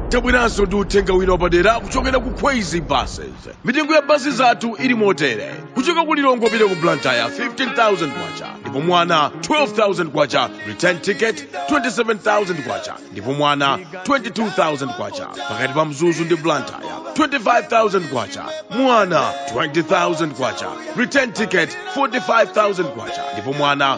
tabweranso ndi uthenga wina wapadera kuchokera ku kwezy buses mitengo ya basi zathu ili motere kuchoka ku lilongwe kupita ku blantyre 15000 kwacha ndipo mwana 12000 kwacha return ticket 27000 kwacha ndipo mwana 22000 kwacha pakati pa mzuzu ndi blantyre 25000 kwacha mwana 20000 kwacha return ticket 45000 kwacha ndipo mwana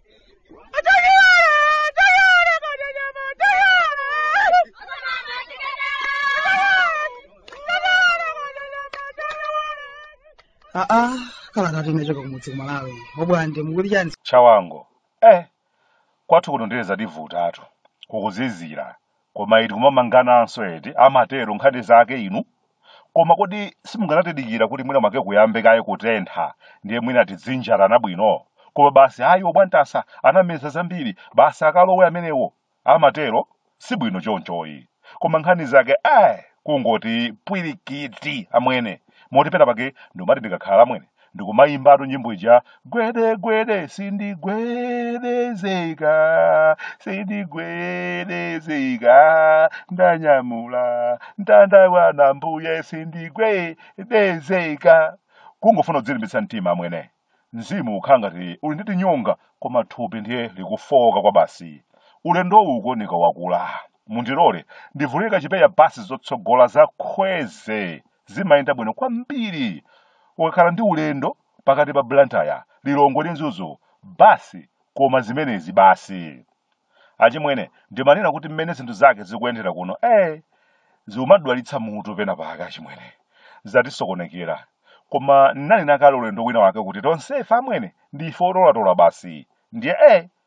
aa kala kati nechoka kumudzi kumalawi obwande mukuti chani chawango eh kwathu kuno ndileza divutatu kukuzizira koma iti kumamangananso eti amatero nkhani zake inu koma kodi simunganatidikira kuti mwina mwake kuyambe kaye kutentha ndiye mwina tidzinjarana bwino koma basi ayi obwantasa anameza zambiri basi akalowe amenewo amatero si bwino chonchoyi koma nkhani zake eh kungoti pwirikiti amwene moti pena pake ndomati ndikakhala amwene ndikumayimbatu nyimbo ija gwede gwede sindigwedezeka sindigwedezeka ndanyamula mtanda wanu ambuye sindigwedezeka kungofuna kudzilimbitsa mtima amwene mzimu ukhala ngati uli ndi tinyonga koma thupi ndiye likufowoka kwa basi ulendo uwu kuoneka wakula mundilole ndivulika chipeya basi zotsogola za kwezy zimayenda bwino kwambiri ukakhala ndi ulendo pakati pa blantyre lilongwe ndi mzuzu basi koma zimenezi basi achimwene ndimanena kuti mmene zinthu zake zikuyendera kuno eh zikumadwalitsa mutu pena pake achimwene zatisokonekera koma ndinanena kale ulendo wina wake kuti tonsefe amwene ndife otolatola basi ndiye eh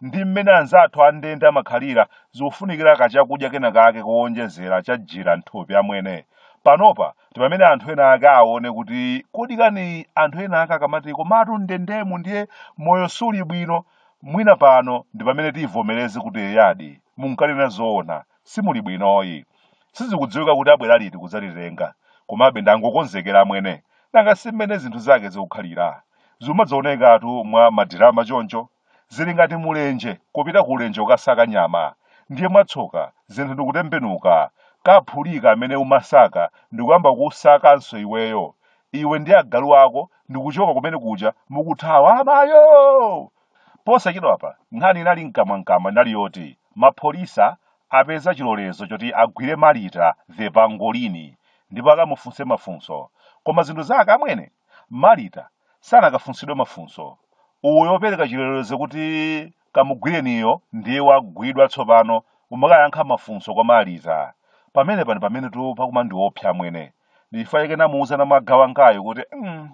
ndi mmene anzathu a ndende amakhalira zikufunikira kachakudya kenakake kowonjezera chajira m'thupi amwene. Panopa ndi pamene anthu ena ake aone kuti kodi kani anthu ena ake akamati komatu m'ndendemu ndiye moyo suli bwino, mwina pano ndi pamene tivomereze kuti eyadi, munkanena zoona, simuli bwinoyi. Sizikudziwika kuti abwera liti kudzatitenga, komabe ndangokonzekera amwene. Nanga si mmene zinthu zake zikukhalira? Zikumadzaonekatu mwa madirama choncho. Zili ngati mulenje kupita ku ulenje ukasaka nyama, ndiye mwatsoka zinthu ndikutembenuka, kaphulika amene umasaka ndikuyamba kukusakanso iweyo, iwe ndi agalu ako ndikuchoka kumene kuja mukuthawa amayoo! Posachedwapa nkhani inali mkamwamkamwa inali yoti mapholisa apeza chilolezo choti agwire Marita the Pangolini ndipo akamufunse mafunso. Koma zinthu zake amwene Marita sanakafunsidwe mafunso. Uyo wopereka chilolezo kuti kamugwireniyo ndiye wagwidwa tsopano, kumakayankha mafunso kwa Marita. Pamenepa ndi pamenetu pakumandiopsa amwene. Ndi chifukwa chake namuuza Namaga wangayo kuti, mm,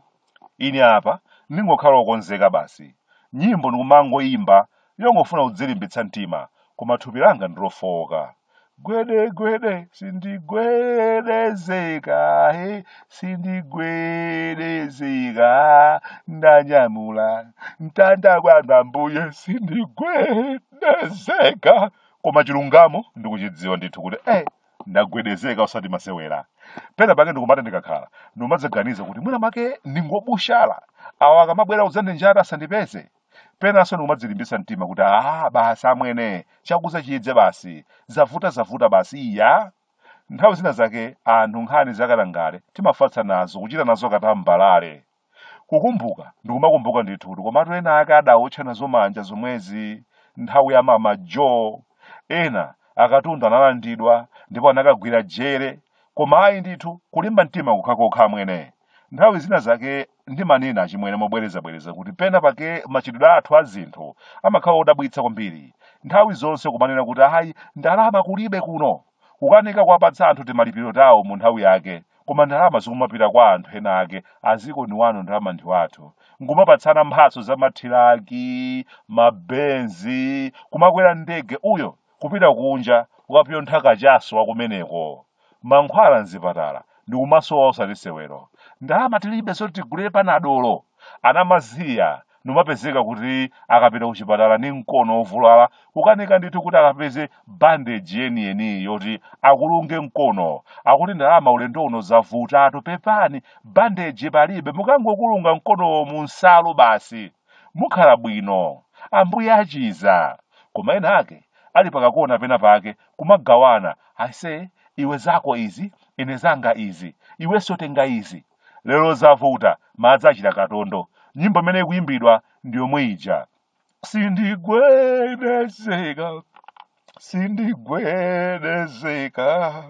ine apa ndingokhala wokonzeka basi. Nyimbo ndikumangoimba yongofuna kudzilimbitsa mtima, koma thupi langa ndi lofowoka. gwede gwede sindigwedezeka he sindigwedezeka ndanyamula mtanda wanu ambuye sindigwedezeka koma chilungamo ndikuchidziwa ndithu kuti eh ndagwedezeka osati masewera pena pake ndikumati ndikakhala ndimadzaganiza kuti mwina mwake ndingobushala awa akamabwera kudzandinjata asandipeze penanso ndikumadzilimbitsa mtima kuti aa basi amwene chakudza chidze basi zavuta zavuta basi iya nthawi zina zake anthu nkhani zakatangale timafatsa nazo kuchita nazo katambalale kukumbuka ndikumakumbuka ndithu kuti komatu ena ake adawotcha nazo manja zomwezi nthawi ya mama joe ena akatundu analandidwa ndipo anakagwira jere koma ayi ndithu kulimba mtima kukhakokha amwene nthawi zina zake Ndimanena achimwene mobwerezabwereza kuti pena pake machitidwe athu a zinthu amakhala odabwitsa kwambiri. Nthawi zonse kumanena kuti ayi, ndalama kulibe kuno. Kukanika kuwapatsa anthu timalipiro tawo mu nthawi yake. Koma ndalama zikumapita kwa anthu ena ake, a ziko ni wanu ndalama ndi wathu. Nkumapatsana mphatso za mathilaki, ma Benz, kumakwera ndege uyo kupita kunja kukapyontha kachaso wa kumeneko. Mankhwala mzipatala ndikumasowa osati sewero. Ndalama tilibe zoti tigulire panadolo. Anamaziya ndikumapezeka kuti akapita kuchipatala ndi mkono ovulala kukanika ndithu kuti akapeze bandage yeniyeni yoti akulunge mkono. Akuti ndalama ulendo uno zavutatu pepani bandage palibe mukangokulunga mkonowo mu nsalu basi. Mukhala bwino. Ambuye achiza. Koma ena ake ali pakakona pena pake kumagawana aise iwe zako izi ine zanga izi iwenso tenga izi lero zavuta madzi achita katondo nyimbo imene ikuyimbidwa ndi yomwe ija sindigwedezeka sindigwedezeka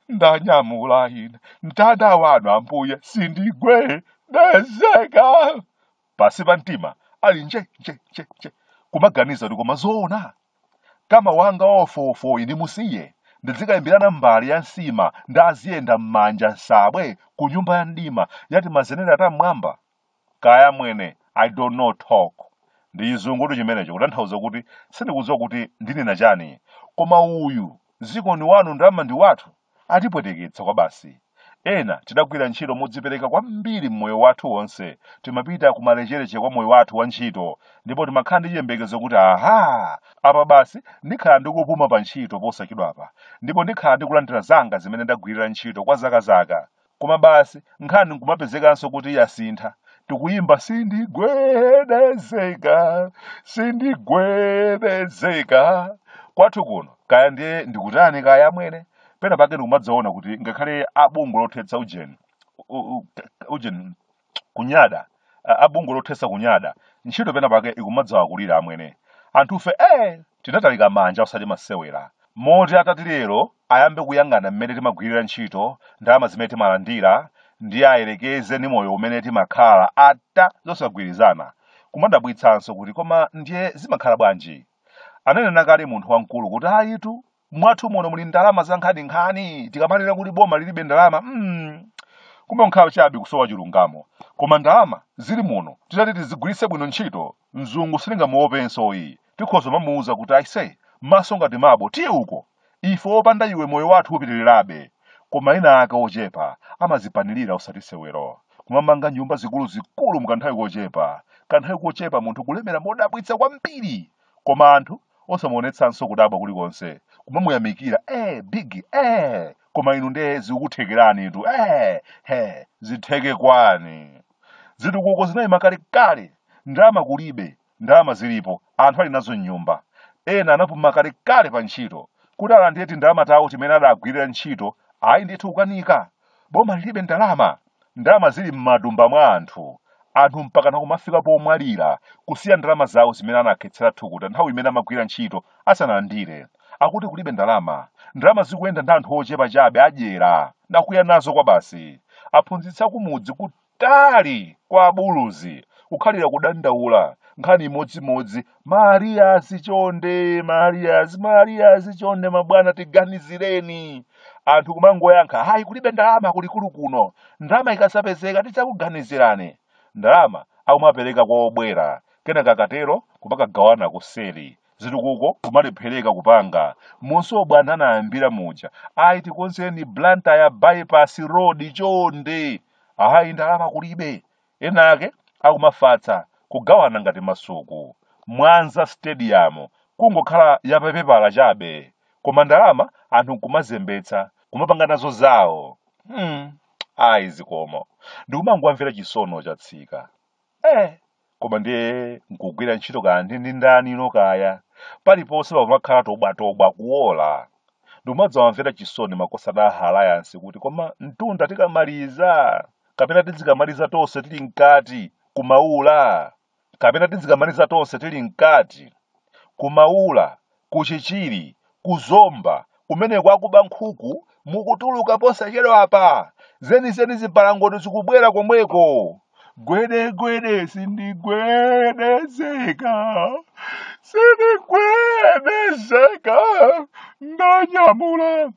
ndanyamula ine mtanda wanu ambuye sindigwedezeka pansi pa mtima ali nje nje nje nje kumaganiza kuti koma zoona kama wanga wawofowofoyi ndimusiye ndidzikalimbirana mbale ya nsima ndi aziyenda m'manja nsabwe ku nyumba ya mdima ya timazenera ta m'mwamba kaya amwene i don't know talk ndi chizungutu chimenecho kutanthauza kuti sindikudziwa kuti ndinena chani koma uyu ziko ni wanu ndalama ndi wathu Atipweteketsa kwabasi. Ena tidagwira ntchito modzipereka kwambiri mmoyo wathu wonse, timapita kumalecheleche kwa moyo wathu wa ntchito ndipo timakhala ndi chiyembekezo kuti aha! Apa basi ndikhala ndikupuma pa ntchito posachedwapa ndipo ndikhala ndikulandira zanga zimene ndagwirira ntchito kwa zaka zaka. koma basi nkhani nkumapezekanso kuti yasintha tikuyimba sindigwedezeka sindigwedezeka kwathu kuno kaya ndiye ndikutani kaya amwene pena pake ndikumadzaona kuti ngakhale a bungwe lothetsa ujeni u- u- ujeni kunyada a, a bungwe lothetsa kunyada ntchito pena pake ikumadzawakulira amwene anthufe eh tinatalika manja osati masewera moti atati lero ayambe kuyang'ana mmene timagwirira ntchito ndalama zimene timalandira ndiye ayerekeze ndi moyo umene timakhala ata zosagwirizana kumadabwitsanso kuti koma ndiye zimakhala bwanji ananena kale munthu wamkulu kuti ayitu mwathu muno muli ndalama zankhaninkhani tikamalira kuti boma lilibe ndalama mm. kumbe nkhawa chabe kusowa chilungamo koma ndalama zili muno titati tizigwiritse bwino ntchito mzungu sitingamuopenso ayi tikhoza mamuuza kuti aise maso ngati mabo tiye uko ife opanda iwe moyo wathu upitirirabe koma ena ake ochepa amazipanilira osati sewero kumamanga nyumba zikuluzikulu mukanthawi kochepa kanthawi kochepa munthu kulemera modabwitsa kwambiri koma anthu osamuonetsanso kudabwa kulikonse kumamuyamikira eh big eh koma inu nde zikukuthekeranitu eh he zitheke kwani zitukuko zinayima kalekale ndalama kulibe ndalama zilipo anthu ali nazo mnyumba ena anapuma kalekale pa ntchito kuti alandire tindalama tawo timene adagwirira ntchito ayi ndithu kukanika boma lilibe ndalama ndalama zili m'matumba mwa anthu anthu mpakana kumafika pomwalira kusiya ndalama zawo zimene anakhetsera thukuta nthawi imene amagwira ntchito asanalandire akuti kulibe ndalama ndalama zikuyenda ndi anthu ochepa chabe adyera nakuya nazo kwa basi aphunzitsi akumudzi ku Kutali! Kwa abuluzi, kukhalira kudandaula, nkhani imodzimodzi, ma arrears chonde, ma arrears, ma arrears chonde mabwana tiganizireni. Anthu kumangoyankha, ayi kulibe ndalama kulikulu kuno, ndalama ikadzapezeka tidzakuganizirani. Ndalama akumapereka kwa obwera, kenaka akatero kumakagawana kuseri. zitukuko kumalephereka kupanga monse bwana anayambira muja ayi tikonzeni blantyre bypass road chonde Ayi ndalama kulibe. Ena ake akumafatsa kugawana ngati masuku. Mwanza stadium kungokhala ya papepala chabe. Koma ndalama anthu nkumazembetsa kumapanga nazo zawo. Hmm. Ayi zikomo. Ndikumangowamvera chisoni chatsika. Eh, koma ndiye nkugwira ntchito kaya ndi ndi ndani ilo kaya paliponse pamakhala tobwatobwa kuwola ndimadzawamvera chisoni makosana a Alliance kuti koma mtunda tikamaliza kapena tidzikamaliza tonse tili mkati kumaula kapena tidzikamaliza tonse tili mkati kumaula Ku Chichiri, ku Zomba, kumeneko akuba nkhuku mukutuluka posachedwapa. Zenizeni zibalangondo zikubwera komweko. Gwedegwede sindigwedezeka, sindigwedezeka, ndanyamula